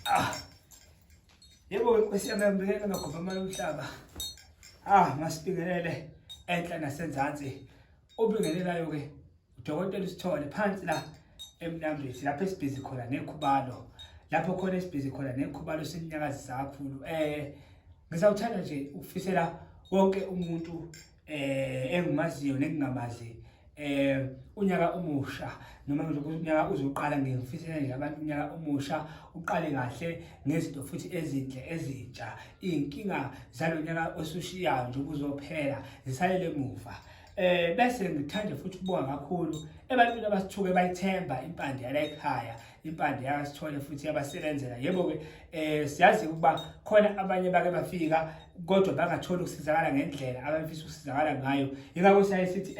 Ah. Yebo inkosi yami yambikela makhopha amanye umhlaba. Ah, masibingelele enhla nasenzansi. Ubingelelayo ke udokotela usithole phansi la emnambisi lapho esibhizi khona nekhubalo. Lapho khona esibhizi khona nekhubalo sinyakazisa kakhulu. Eh, ngisawuthanda nje ukufisela wonke umuntu eh engimaziyo nengingamazi eh unyaka omusha noma unyaka uzoqala ngifisela nje abantu unyaka omusha uqale kahle ngezinto futhi ezinhle ezintsha inkinga zalonyaka osushiyayo nje kuzophela zisalele emuva eh bese ngithanda futhi ukubonga kakhulu ebantwini abasithuke bayithemba impande yala ekhaya impande yakasithole futhi yabasebenzela yebo-ke um siyazi ukuba khona abanye bake bafika kodwa bangatholi ukusizakala ngendlela abafisa ukusizakala ngayo yingakho siyaye sithi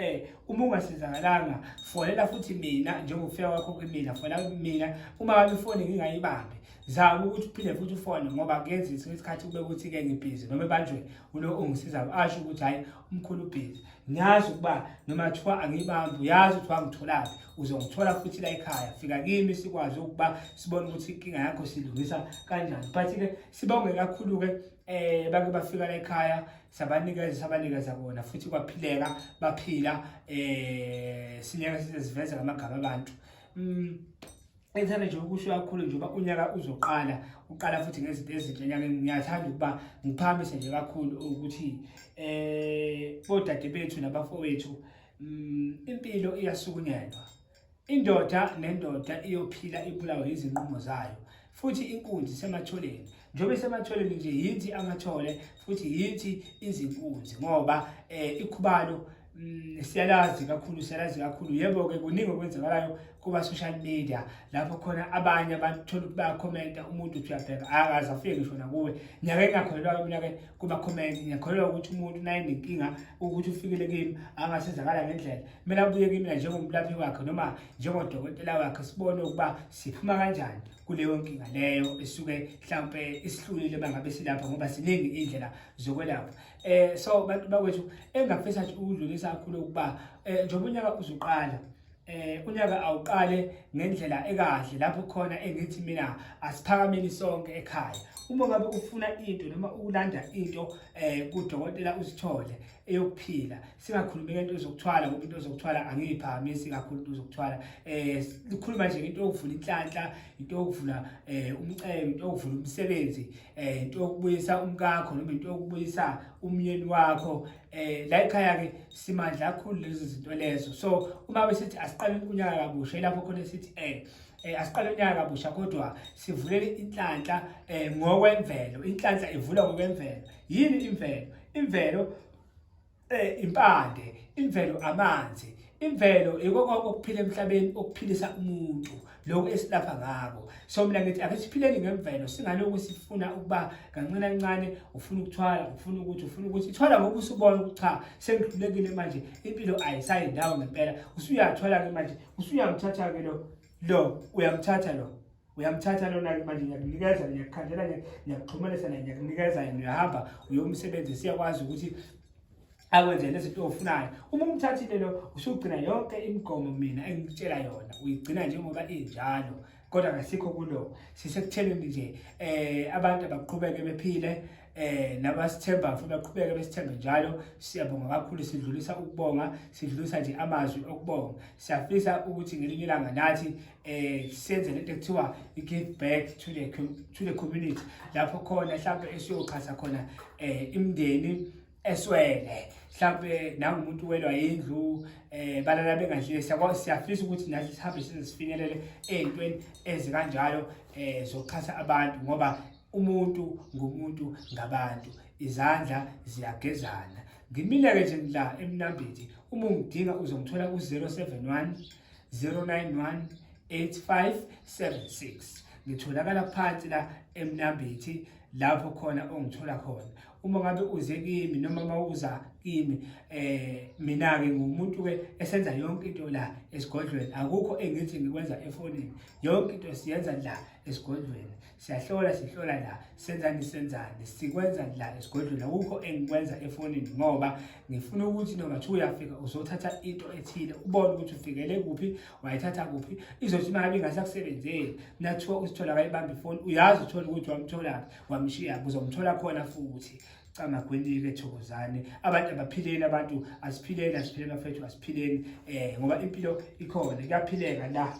um uma ungasizakalanga fonela futhi mina njengokufika kwakho kwimina fonela mina uma wami ifoni ngingayibambi zama ukuthi uphinde futhi ufone ngoba kuyenzisa isikhathi kube ukuthi-ke ngibhizi noma ebanjwe ulo ongisizayo asho ukuthi hhayi umkhulu ubhizi ngiyazi ukuba noma kuthiwa angiyibambi uyazi ukuthi wangitholaphi uzongithola futhi la ekhaya fika kimi sikwazi ukuba sibone ukuthi inkinga yakho silungisa kanjani but-ke sibonge kakhulu-ke eh bake bafika la ekhaya sabanikeza sabanikeza kona futhi kwaphileka baphila eh sinyaka siziveza ngamagama abantu mm. Ngithanda nje ukusho kakhulu nje uba unyaka uzoqala uqala futhi ngezinto ezinhle enyakeni ngiyathanda ukuba ngiphamise nje kakhulu ukuthi eh bodade bethu nabafowethu mm, impilo iyasukunyelwa indoda nendoda iyophila ibulawe izinqumo zayo futhi inkunzi sematholeni njengoba esematholeni nje yithi amathole futhi yithi izinkunzi ngoba eh ikhubalo mm, siyalazi kakhulu siyalazi kakhulu yebo ke kuningi okwenzakalayo kuba social media lapho khona abanye abantu thola ukuthi bayakhomenta umuntu uthi uyabheka akaze afike ngisho nakuwe nyaka engakholelwa mina ke kuba comment ngiyakholelwa ukuthi umuntu naye nenkinga ukuthi ufikile kimi angasizakala ngendlela mina ubuye kimi njengomlaphi wakhe noma njengodokotela wakhe sibone ukuba siphuma kanjani kuleyo nkinga leyo esuke mhlampe isihlulile bangabe silapha ngoba ziningi indlela zokwelapha eh so bantu bakwethu engafisa nje ukudlulisa kakhulu ukuba eh, njengoba unyaka uzuqala eh unyaka awuqale ngendlela ekahle lapho khona engithi mina asiphakameni sonke ekhaya uma ngabe ufuna into noma ukulanda into eh kudokotela usithole eyokuphila singakhulumi ngento ezokuthwala ngoba into ezokuthwala angiyiphakamisi kakhulu into ezokuthwala eh likhuluma nje into yokuvula inhlanhla into yokuvula eh umcebo into yokuvula umsebenzi eh into yokubuyisa umkakho noma into yokubuyisa umyeni wakho eh la ekhaya ke simandla kakhulu lezi zinto lezo so uma besithi asiqale ukunyaka kabusha ilapho khona sithi eh eh asiqale unyaka kabusha kodwa sivulele inhlanhla eh ngokwemvelo inhlanhla ivula ngokwemvelo yini imvelo imvelo eh impande imvelo amanzi imvelo yiko konke okuphila emhlabeni okuphilisa umuntu lokho esilapha ngako so mina ngithi ake siphileni ngemvelo singalokhu sifuna ukuba kancane kancane ufuna ukuthwala ufuna ukuthi ufuna ukuthi ithwala ngoba usubona ukuthi cha sengihlulekile manje impilo ayisayi ndawo ngempela usuyathwala ke manje usuyamthatha ke lo lo uyamthatha lo uyamthatha lona-ke manje ngiyakunikeza ngiyakukhandela ngiyakuxhumanisa naye ngiyakunikeza yena uyahamba uyomsebenzi siyakwazi ukuthi akwenze nezinto ofunayo uma umthathile lo usugcina yonke imigomo mina engikutshela yona uyigcina njengoba injalo kodwa kasikho kulo sisekutheleni nje eh abantu abaqhubeke bephile eh nabasithemba futhi baqhubeke besithembe njalo siyabonga kakhulu sidlulisa ukubonga sidlulisa nje amazwi okubonga siyafisa ukuthi ngelinye ilanga nathi eh senze lento ekuthiwa i-give back to the to the community lapho khona mhlawumbe esiyoxhasa khona eh imndeni eswele mhlawumbe nangumuntu welwa yindlu eh balala bengadlile siyafisa ukuthi nathi sihambe size sifinyelele ey'ntweni ezikanjalo eh zokuxhasa abantu ngoba umuntu ngumuntu ngabantu izandla ziyagezana ngimile-ke nje la emnambiti uma ungidinga uzongithola ku-071 0918576 ngitholakala phansi la emnambithi lapho khona ongithola khona uma ngabe uze kimi noma uma uza kimi eh mina ke ngumuntu ke esenza yonke into la esigodlweni akukho engithi ngikwenza efonini yonke into siyenza la esigodlweni siyahlola sihlola la senzani senzani sikwenza la esigodlweni akukho engikwenza efonini ngoba ngifuna ukuthi noma kuthiwa uyafika uzothatha into ethile ubone ukuthi ufikele kuphi wayithatha kuphi izothi uma ngabe ingasakusebenzeli mina kuthiwa usithola kayibambe ifoni uyazi uthola ukuthi wamtholaphi wamshiya uzomthola khona futhi camagwendile thokozane abantu abaphileni abantu asiphileni asiphileni bafethu asiphileni um ngoba impilo ikhona kuyaphileka la